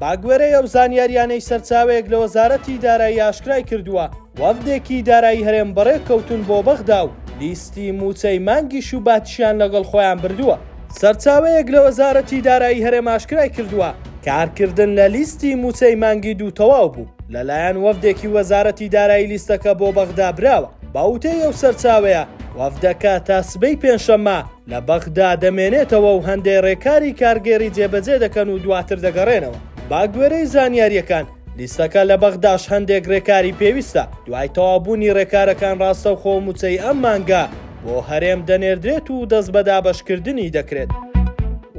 بەگوێرەی ئەو زانیارییانەی سەرچاوەیەک لە وەزارەتی دارایی ئاشکرای کردووە، وەفدێکی دارایی هەرێم بەڕێ کەوتوون بۆ بەغدا و لیستی مووچەی مانگی شوباتیشیان لەگەڵ خۆیان بردووە. سەرچاوەیەک لە وەزارەتی دارایی هەرێم ئاشکرای کردووە، کارکردن لە لیستی مووچەی مانگی دوو تەواو بوو، لەلایەن وەفدێکی وەزارەتی دارایی لیستەکە بۆ بەغدا براوە. بە وتەی ئەو سەرچاوەیە، وەفدەکە تا سبەی پێنجشەممە، لە بەغدا دەمێنێتەوە و هەندێ رێکاری کارگێڕی جێبەجێ دەکەن و دواتر دەگەڕێنەوە. بەگوێرەی زانیارییەکان، لیستەکە لە بەغداش هەندێک رێکاری پێویستە، دوای تەواوبوونی رێکارەکان راستەوخۆ مووچەی ئەم مانگە بۆ هەرێم دەنێردرێت و دەست بە دابەشکردنی دەکرێت.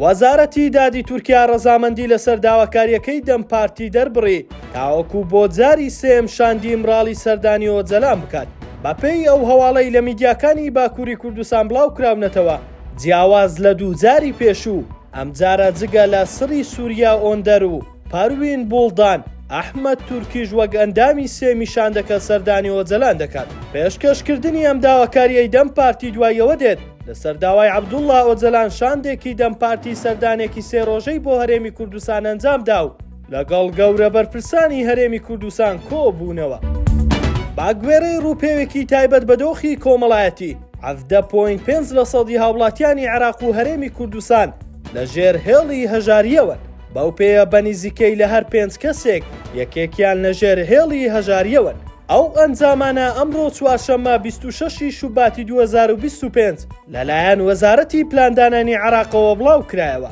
وەزارەتی دادی تورکیا رەزامەندی لەسەر داواکارییەکەی دەم پارتی دەربڕی تاوەکو بۆ جاری سێیەم شاندی ئیمراڵی سەردانی ئۆجەلان بکات. بەپێی ئەو هەواڵەی لە میدیاکانی باکووری کوردستان بڵاوکراونەتەوە، جیاواز لە دووجاری پێشوو، ئەمجارە جگە لە سری سوریا ئۆندەر و پەروین بوڵدان، ئەحمەد تورکیش وەک ئەندامی سێ میشاندەکە سەردانی ئۆجەلان دەکات. پێشکەشکردنی ئەم داواکارییەی دەم پارتی دوای ئەوە دێت، لەسەر داوای عەبدوڵڵا ئۆجەلان شاندێکی دەم پارتی سەردانێکی سێ رۆژەی بۆ هەرێمی کوردستان ئەنجامدا و، لەگەڵ گەورە بەرپرسانی هەرێمی کوردستان کۆبوونەوە. با گوێڕەی ڕووپێوێکی تایبەت بە دۆخی کۆمەڵایەتی 17.5 لە سەدی هاوڵاتیانی عێراق و هەرێمی کوردستان لە ژێر هێڵی هەژارییەوەن، بەو پێیە بە نیزیکەی لە هەر پێنج کەسێک یەکێکیان لە ژێر هێڵی هەژارییەوەن. ئەو ئەنجامانە ئەمڕۆ چوارشەممە بیست و شەش ی شوباتی دوو هەزار و بیست و پێنج لەلایەن وەزارەتی پلاندانانی عێراقەوە بڵاوکرایەوە.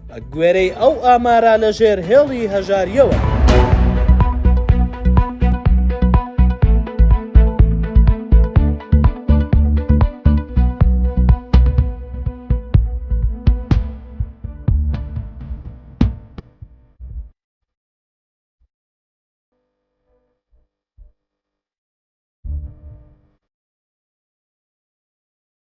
بەگوێرەی ئەو ئامارە لەژێر هێڵی هەژارییەوە.